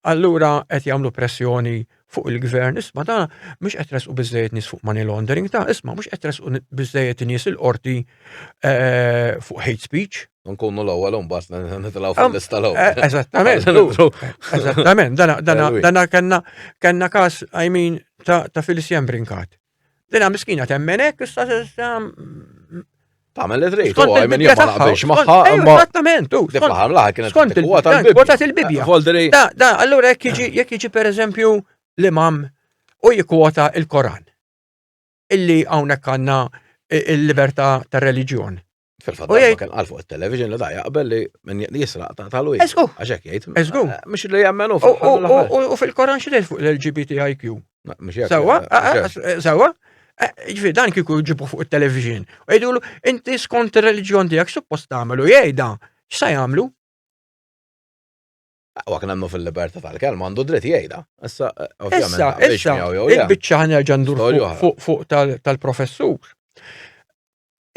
allura qed jagħmlu pressjoni fuq il-gvern, isma ta' mhux qed resqu biżejjed nies fuq money laundering, ta' isma mhux qed resqu biżejjed nies il-qorti eh, fuq hate speech. Nkunu l-ewwel imbagħad nitilgħu fil-lista l-ewwel. Eh, eh, eżattament. Eżattament, dana kellna kellna każ I mean ta' Felicia Brinkat. Dina miskina temmen hekk issa Tagħmel li trid, u għajmen jien ma naqbilx magħha. Eżattament, u. Dik l-aħħar l-aħħar kienet kont il-Bibja. Voldri. Da, da, allura jekk jiġi jekk jiġi pereżempju l-imam u jikwota il-Koran. Illi hawnhekk għandna il-libertà tar-reliġjon. Fil-fatt, u jgħid għal fuq il-television li da jaqbel li minn jisraq ta' tal wieħed. Eżgu. Għaxek jgħid. Eżgu. Eh, mux li jgħammen u U fil-Koran xi fuq l-LGBTIQ. Sawa, sawa. Ġifi, dan kiku ġibu fuq il-television. U jgħidu l inti skont il-reġjon tijak suppost għamelu jgħida. X'sa jgħamlu? Aqwa kien għandu fil-libertà tal-kelma, għandu dritt jgħidha. Issa, Issa, issa, il-bicċa ħanerġa ndur fuq tal-professur.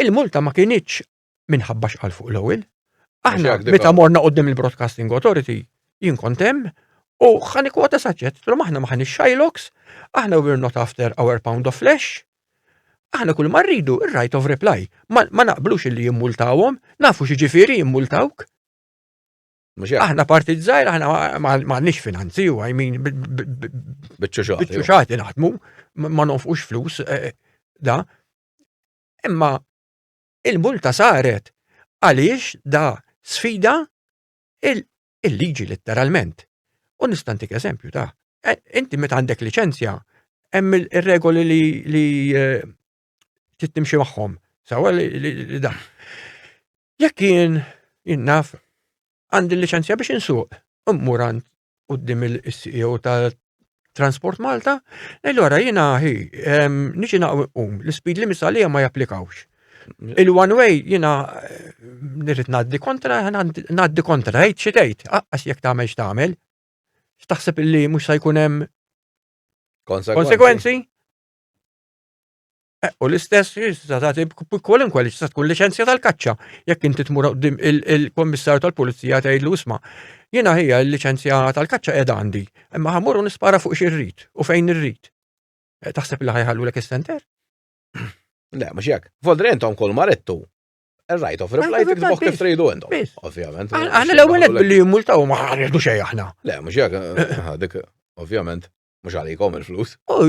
Il-multa ma kienieċ minħabba xqal fuq l-ewwel. Aħna, meta morna qoddim il-Broadcasting Authority, jien kontem, u ħani kwota saċet, trom aħna ma ħani Shylox, aħna we're not after our pound of flesh, aħna kull marridu il-right of reply. Ma naqblux li jimmultawom, nafu xieġifiri jimmultawk. Aħna partit zaħir, aħna maħnix finanzi u għajmin bieċuċati naħdmu, ma nofqux flus, eh, eh, da. Imma il-multa saret għaliex da sfida il-liġi letteralment. U nistantik eżempju ta' eh, inti meta għandek licenzja, hemm il-regoli li tittimxi magħhom. Sawa li da. Jekk jien jinnaf għandi liċenzja biex insuq, immur għand qudiem il-CEO ta' Transport Malta, ngħidu għara jiena ħi niġi naqum l-speed limits għalija ma japplikawx. Il-one way jiena eh, nirrit ngħaddi kontra, ngħaddi kontra, għajt xi tgħid, aqqas jekk tagħmel x'tagħmel. X'taħseb li mhux se jkun hemm konsekwenzi? Eh, u l-istess tista' tagħti kwalunkwe li tista' tkun liċenzja tal-kaċċa. Jekk inti tmur qudiem il-Kommissarju tal-Pulizija tgħidlu isma' jiena ħija l-liċenzja tal-kaċċa qed għandi, imma ħamur u nispara fuq xi rrid u fejn irrid. Eh, taħseb li ħajħallu lek is-center? Le, mhux jekk. Voldri intom kol marettu. Right of reply tibżgħu kif tridu intom. Ovvjament. Aħna l-ewwel billi jimmultaw ma ħarġu xejn aħna. Le, mhux jekk eh, dik ovvjament. Mhux għalikom il-flus. Oh,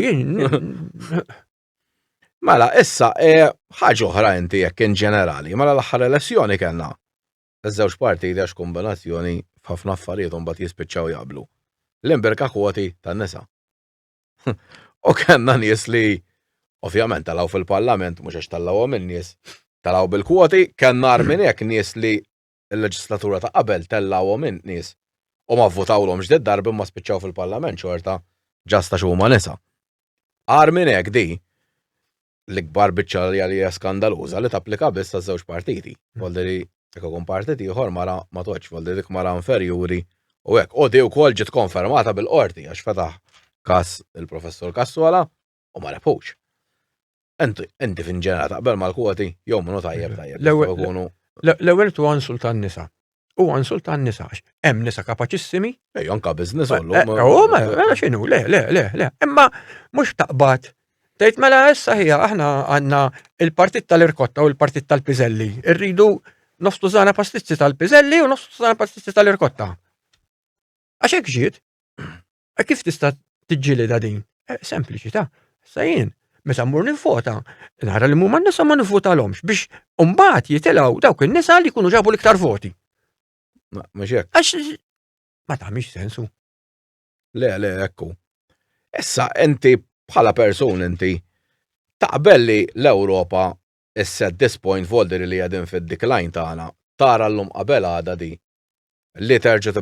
mela, issa, eh, ħaġa oħra inti jekk in ġenerali, mela l-aħħar elezzjoni kellna Iż-żewġ parti għax kombinazzjoni f'ħafna affarijiet un bat jispiċċaw jaqblu. L-imberka kwoti tan nisa. U kellna nies li ovvjament talaw fil-parlament mhux għax talawhom in-nies talaw bil-kwoti, kellna armin hekk nies li il-leġislatura ta' qabel tellgħuhom in nies u ma vvutawlhomx di d-darba imma spiċċaw fil-Parlament xorta ġast għax huma nisa. Agħar minn hekk di l-ikbar biċċa li għalija skandaluża li tapplika biss għaż-żewġ partiti. Volderi jekk ikun partit ieħor mara ma toġġ, volderi dik mara inferjuri u hekk. U di wkoll ġiet konfermata bil-qorti għax fetaħ każ il-Professur Kassola u ma rebħux. Inti fin ġenerali taqbel mal-kwoti jew minnu tajjeb tajjeb. L-ewwel tu għansul tan-nisa. U għansul tan-nisa għax hemm nisa kapaċissimi. Ej, anka biżness eh, għallu. Eh, u ma eh, x'inhu, le, le, le, le. Imma mhux taqbad Tgħid mela issa ħija aħna għandna il-partit tal-irkotta u l-partit tal-piżelli. Irridu nofstu żana pastizzi tal-piżelli u nofstu żana pastizzi tal-irkotta. Għax hekk ġiet. E kif tista' tiġġielidha din? E, sempliċi ta' sa jien meta mmur nivvota, nara li mumma nisa ma nivvotalhomx biex umbat jitilgħu dawk in-nisa li jkunu ġabu l-iktar voti. Għax ma tagħmilx sensu. Le, le, ekku. Issa inti bħala persun inti taqbel li l-Ewropa is-set disappoint volder li għadin fid-decline tagħna tara l-lum qabel għada di li terġa'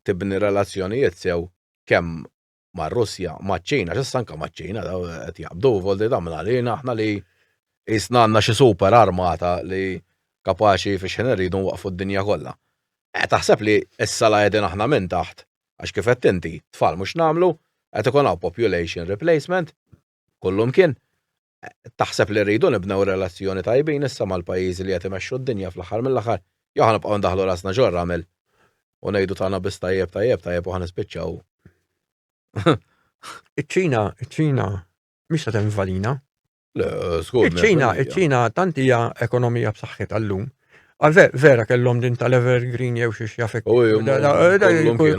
tibni relazzjonijiet sew kemm mar-Russja, maċ-Ċina, x'issa anke maċ-Ċina daw qed jaqbdu voldi damna għalina aħna li jisna għandna xi super armata li kapaċi fi xħin irridu nwaqfu d-dinja kollha. Eh, taħseb li issa la qegħdin aħna minn taħt, għax kif qed inti, tfal mhux nagħmlu, qed ikun hawn population replacement, kullum kien, Taħseb li rridu nibnew relazzjoni tajbin issa mal-pajjiżi li qed imexxu d-dinja fl-aħħar mill-aħħar? Jew ħa nibqgħu ndaħħlu rasna ġo r-ramel u ngħidu tagħna biss tajjeb tajjeb tajjeb u ħa nispiċċaw Iċ-Ċina, iċ-Ċina mhix se tinvadina. Le, żgur. Iċ-Ċina, iċ-Ċina tant hija ekonomija b'saħħitha llum Għal vera kellhom din tal-Evergreen jew xiex jafek.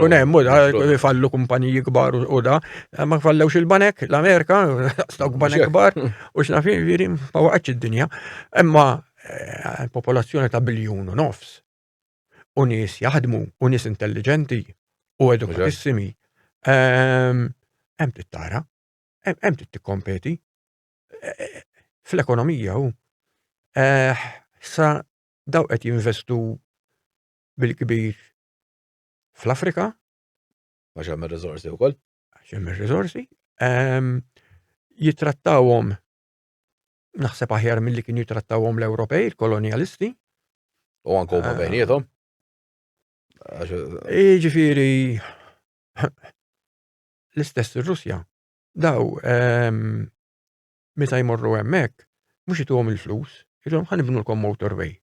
Kun hemm, da, fallu kumpaniji kbar u da, ma fallewx il-banek, l-Amerika, stok banek kbar, u xnafi, viri, ma waqgħetx id-dinja. Imma eh, popolazzjoni ta' biljun u nofs. U nies jaħdmu, u nies intelligenti, u edukatissimi. Ehm, hemm tittara, hemm titkompeti. fl-ekonomija hu. Eh, sa daw qed jinvestu bil-kbir fl-Afrika. Għax hemm ir-riżorsi wkoll. Għax hemm ir-riżorsi. Ehm, jitrattawhom naħseb aħjar milli kien jitrattawhom l-Ewropej, il-kolonialisti. U anke huma eh. bejniethom. Ġifieri l-istess ir-Russja daw ehm, meta jmorru hemmhekk mhux ituhom il-flus, ilhom ħan ibnulkom motorway,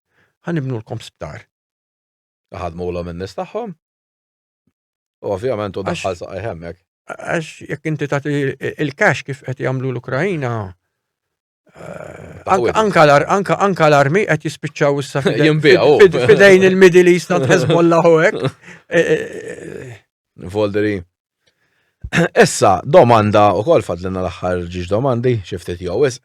ħan ibnulkom sptar. Ħadmu l in-nies tagħhom. U ovvjament u daħħal saqaj hemmhekk. Għax jekk inti tagħti il-cash kif qed jagħmlu l-Ukrajina, Anka l-armi qed jispiċċaw issa fidejn il-Middle East għand Hezbollah u hekk. E, e, e. Volderi. Issa, domanda u kol fadlina l-axħar ġiġ domandi, xiftit jowis,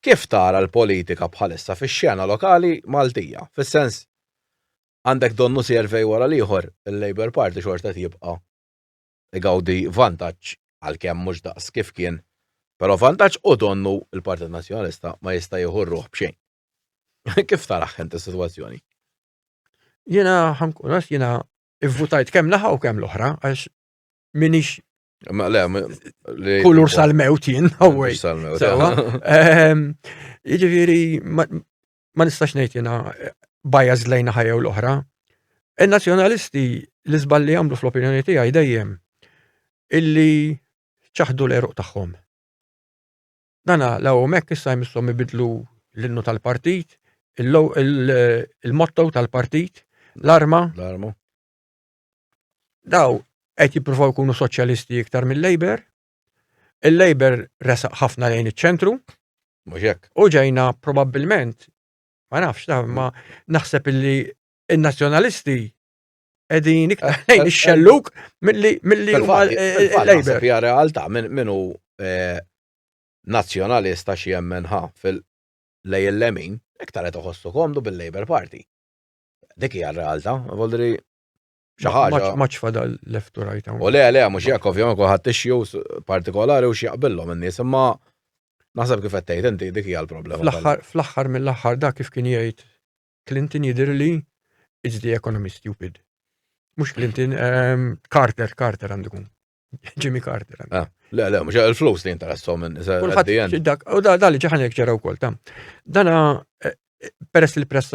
kif tara l-politika bħalissa fi xena lokali Maltija? Fis-sens, għandek donnu servej wara liħor, il-Labour Party xorta tibqa igawdi vantaġġ għalkemm mhux daqs kif kien, però vantaġġ u donnu l-Partit Nazzjonalista ma jista' jieħu r-ruħ b'xejn. Kif tarah int is-sitwazzjoni? Jiena ħankun għax jiena ivvutajt kemm naħa u kemm l-oħra għax minix kulur sal-mewt jien, għawaj. Jiġifieri ma nistax ngħid jiena eh, bias lejna ħajja u l-oħra. Il-nazzjonalisti li żball li jagħmlu fl-opinjoni tiegħi dejjem illi ċaħdu l-eruq tagħhom. Dana la hemmhekk issa jmissom ibidlu l-innu tal-partit, il-motto tal-partit, l-arma. L-arma. Daw qed jippruvaw jkunu soċjalisti iktar mill-Labor, Il-Labour resaq ħafna lejn iċ-ċentru. Mhux hekk. U ġejna probabbilment ma nafx ta' ma naħseb illi il-nazzjonalisti edin iktar eh, lejn eh, ix-xelluk eh, milli milli il-Labour. Hija realtà minnu nazzjonalista xi jemmen ħa fil-lej il-lemin iktar qed iħossu komdu bil-Labour Party. Dik hija r-realtà, voldri xi ħaġa. Maċ fadal left u right hawn. U le, le, mhux jekk ovvjament kulħadd issue partikolari u xi jaqbillhom in-nies, imma naħseb kif qed tgħid inti dik hija l-problema. Fl-aħħar mill-aħħar dak kif kien jgħid Clinton jidher li it's the economy stupid. Mhux Clinton, ehm, Carter, Carter għandu kun. Jimmy Carter. Ah, le, le, mux il-flus li jinterassom minn Kulħadd dak, u da li ġaħan jek ġara wkoll tam. Dana eh, eh, peress li l-press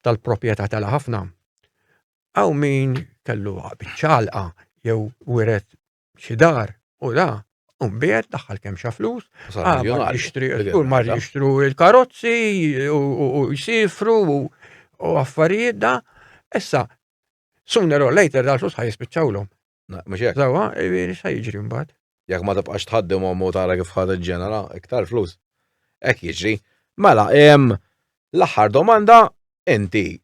tal-proprjetà tala ħafna, għaw min kellu ċalqa jew wiret xi dar u da Umbiet daħħal kemm xa flus, ah, kull mar jixtru il-karozzi u jisifru u affarijiet da. Issa, sooner or later dal-flus ħaj jispiċċawlhom. Mhux hekk. Sawa, jiġifieri sa jiġri mbagħad. Jekk ma tibqax tħaddim u tara kif ħad ġenera iktar flus. Hekk jiġri. Mela, l-aħħar domanda inti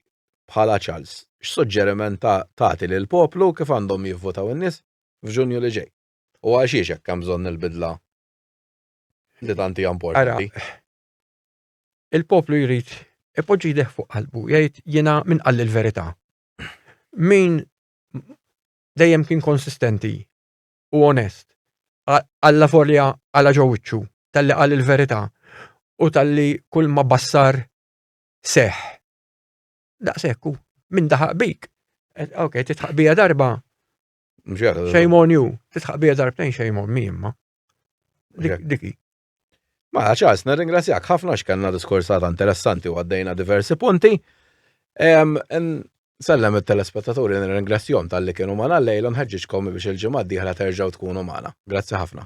bħala Charles x'suġġeriment tagħti lill-poplu kif għandhom jivvutaw in-nies f'Ġunju li ġej? U għalxiex hekk hemm bżonn il-bidla li tant hija importanti? Il-poplu jrid ipoġġi jdeh fuq qalbu, jgħid jiena min qal il-verità. Min dejjem kien konsistenti u onest. Alla forja għala ġowiċċu, tal-li għal il-verità u tal-li kull ma bassar seħ. Daqsekku, minn daħaq bik. Eh, ok, titħaq bija darba. Shame on you. Titħaq bija darbtejn shame on me imma. Diki. Mela Charles, nirringrazzjak ħafna x'kellna diskursata interessanti u għaddejna diversi punti. Sellem it-telespettaturi nirringrazzjom tal-li kienu magħna l-lejl u nħeġġiġkom biex il-ġimgħa d-dieħla terġgħu tkunu magħna. Grazzi ħafna.